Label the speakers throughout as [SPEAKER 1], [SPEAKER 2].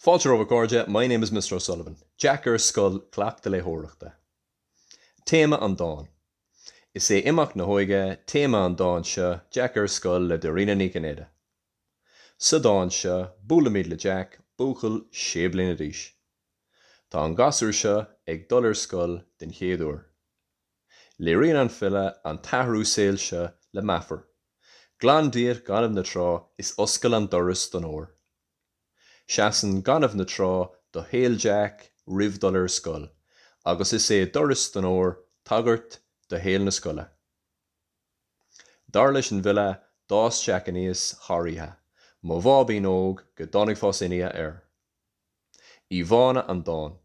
[SPEAKER 1] Fáilte romhaibh a chairde, my name is Mr O'Sullivan. Jeaic ar scoil, Cleachtadh léitheoireachta. Téama an dáin. Is é imeacht na hóige téama an dáin seo, Jeaic ar scoil le Dairena Ní Chinnéide. Sa dán seo, buailimid le Jeaic, buachaill sé bliana d'aois. Tá an gasúr seo ag dul ar scoil den chéad uair. Léiríonn an file an t-athrú saoil seo le meafar, Glan díot gaineamh na trá is oscail an doras don fhómhar. Seasann gaineamh na trá do shaol Jeaic roimh dhul ar scoil agus is é doras don fhómhar tagairt do shaol na scoile. Dar leis an bhfile d'fhás Jeaic aníos thar oíche, mo bháibín óg go dtáinig fás aon oíche air. Íomhánna an dáin.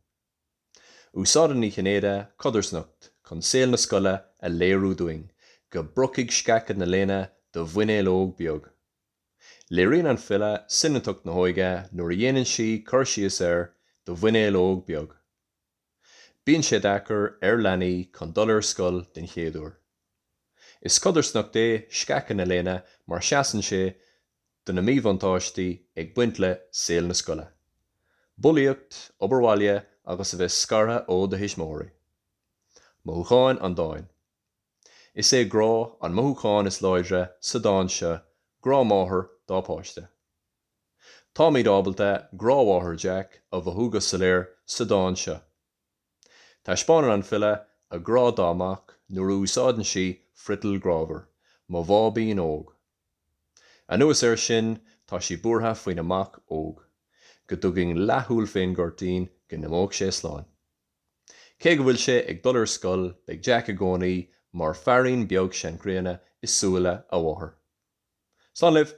[SPEAKER 1] Úsáideann Ní Chinnéide codarsnacht chun saol na scoile a léiriú dúinn, go bpriocfaidh sceacha na léine do mhuinéal óg beag. Léiríonn an file soineantacht na hóige nuair a dhéanann sí cur síos ar do mhuinéal óg beag. Bíonn sé deacair ar leanaí chun dul ar scoil den chéad uair. Is codarsnacht é sceacha na léine mar seasann sé do na míbhuntáistí ag baint le saol na scoile, bulaíocht, obair bhaile agus a bheith scartha ó do thuismitheoirí. Mothúcháin an dáin. Is é grá an mothúchán is láidre sa dán seo, grá máthar dá páiste. Táimid ábalta grá mháthair Jeaic a mhothú go soiléir sa dán seo. Taispeánann an file a grá dá mac nuair a úsáideann sí friotal grámhar, 'mo bháibín óg'. Anuas air sin, tá sí buartha faoina mac óg, go dtugainn leathshúil fén gcuirtín go n-imeodh sé slán. Cé go bhfuil sé ag dul ar scoil, beidh Jeaic i gcónaí mar 'fearín beag seanchríonna' i súile a mháthar. Slán libh!